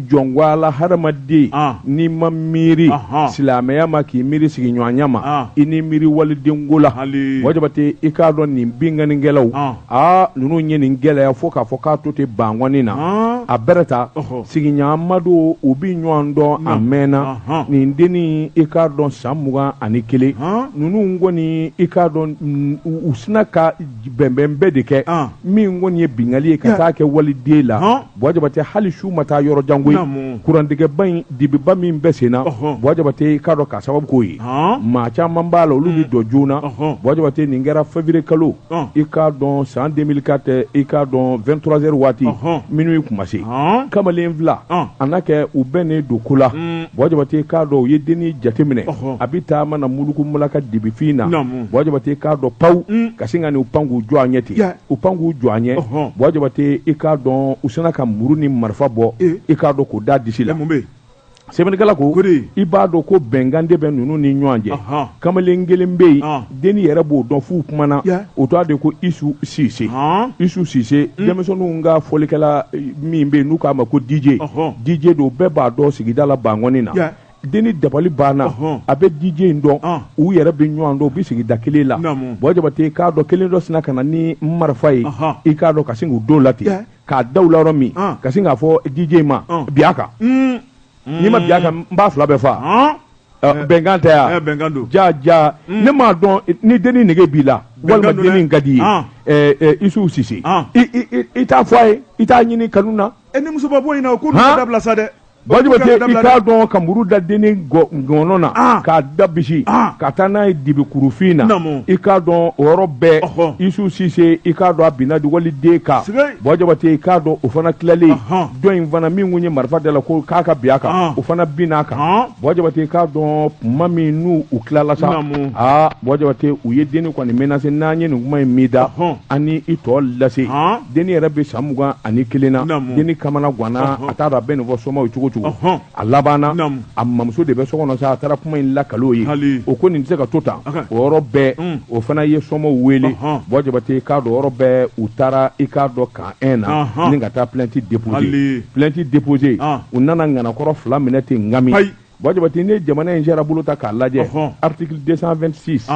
jɔn wala hadamaden n'i ma miiri silamɛya ma k'i miiri sigiɲɔgɔnya ma i ni miiri walidenko la Buwajabate i k'a dɔn nin binkannikɛlaw aa ninnu ye nin gɛlɛya fo k'a fɔ k'a to ten bankɔni na a bɛ taa sigiɲɔgɔnma don u bɛ ɲɔgɔn dɔn a mɛnna nin dennin i k'a dɔn san mugan ani kelen ninnu kɔni i k'a dɔn u sinna ka bɛnbɛn bɛɛ de kɛ min kɔni ye binkanni ye ka taa kɛ waliden la Buwajabate hali su ma taa yɔrɔ jan koyi, naamu, kurantigɛba in dibiba min bɛ sen na, ɔhɔ, Buwajabate i k'a dɔn k'a sababu k'o ye, han, maa caman b'a la olu bɛ don joona, ɔhɔ, Buwajabate nin kɛra février kalo, ɔn, i k'a dɔn san 2004 i k'a dɔn 23 heures waati, ɔhɔ, minuit tun ma se, han, kamalen fila, ɔn, a na kɛ u bɛnnen don ko la, un, Buwajabate i k'a dɔn u ye dennin jateminɛ, ɔhɔ, a bɛ taama na muluku mulaka dibifin na, naamu, Buwajabate i k'a dɔn pawu, un, ka sin ka n'u pan k'u jɔ a ɲɛ ten. u pan k'u jɔ a ɲɛ Buwajabate i k'a dɔn u sinna ka muru ni marifa bɔ i k'a dɔn k'u da disi la sɛbɛnnikɛla ko i b'a dɔn ko bɛnkan de bɛ ninnu ni ɲɔgɔn cɛ kamalen kelen bɛ yen dennin yɛrɛ b'o dɔn f'u kumana o tɔgɔ de ko Isu Sise Isu Sise denmisɛnninw ka fɔlikɛla min bɛ yen n'u k'a ma ko DJ DJ don bɛɛ b'a dɔn sigida la bankɔni na dennin dabali banna a bɛ DJ in dɔn u yɛrɛ bɛ ɲɔgɔn dɔn u bɛ sigida kelen la Buwajabate k'a dɔn kelen dɔ sinna ka na ni marifa ye i k'a dɔn ka sin k'o d'u la ten k'a da u la yɔrɔ min ka sin k'a fɔ DJ in ma bin a kan n'i ma bin a kan n b'aw fila bɛɛ faa bɛnkan tɛ yan bɛnkan don ja ja ne m'a dɔn ni dennin nege b'i la walima dennin ka di i ye Isu Sise i t'a fɔ a ye i t'a ɲini kanu na e ni musoba bɔ in ko dabila sa dɛ Buwajabate i k'a dɔn ka muru da dennin ngɔɔnɔ na ah. k'a da bisi ah. ka taa n'a ye dibi kurufin na i k'a dɔn o yɔrɔ bɛɛ Isu Sise i k'a dɔn a binna waliden kan Buwajabate i k'a dɔn o fana tilalen dɔ in fana min kun ye marifa d'a la ko k'a ka bin a kan ah. o fana binna a kan Buwajabate i k'a dɔn tuma min n'u tilala sa aa Buwajabate u ye dennin kɔni menacer n'an ye nin kuma in mɛn i da an ni i tɔ lase. dennin yɛrɛ bɛ san mugan ani kelen na dennin kamana ganna a t'a dɔn a bɛ nin fɔ somaaw ye cogo cogo a labanna a mamuso de bɛ so kɔnɔ sa a taara kuma in lakal'o ye o ko nin tɛ se ka to tan o yɔrɔ bɛɛ o fana ye somaaw wele Buwajabate k'a dɔn yɔrɔ bɛɛ u taara i k'a dɔn camp un na ni ka taa plainte déposer plainte déposer u nana ŋanakɔrɔ fila minɛ ten n nka Buwajabate ne jamana in jɛra bolo ta k'a lajɛ article 226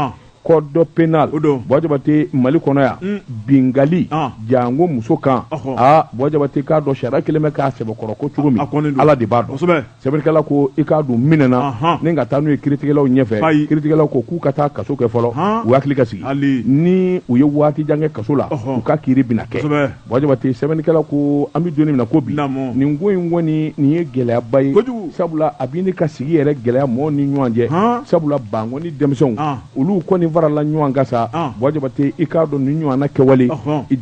code pénal Buwajabate Mali kɔnɔ yan mm. binkanni ah. janko muso kan aa Buwajabate k'a dɔn sariya kɛlen bɛ k'a sɛbɛkɔrɔ kɔn cogo min ala de b'a dɔn sɛbɛnnikɛla ko i k'a dɔn u minɛna ni ka taa n'u ye kiritigɛlaw ɲɛfɛ kiritigɛlaw ko k'u ka taa kaso kɛ fɔlɔ u hakili ka sigi ni u ye waati jan kɛ kaso la u ka kiri bɛna kɛ Bajabate sɛbɛnnikɛla ko an bɛ don min na ko bi nin ko in kɔni nin ye gɛlɛyaba ye sabula a bɛ ne ka sigi yɛrɛ gɛlɛya mɔgɔ ni ɲɔgɔn cɛ sabula Bankɔni denmisɛnw olu kɔni farala ɲɔgɔn kan sa bajabate i k'a dɔn nin ɲɔgɔnna kɛwale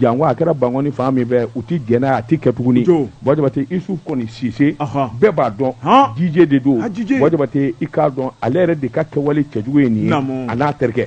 janko a kɛra Bankɔni fan min fɛ u tɛ jɛn n'a ye a tɛ kɛ tuguni bajabate Isufu kɔni sisan bɛɛ b'a dɔn DJ de don bajabate i k'a dɔn ale yɛrɛ de ka kɛwale cɛjugu ye nin a n'a terikɛ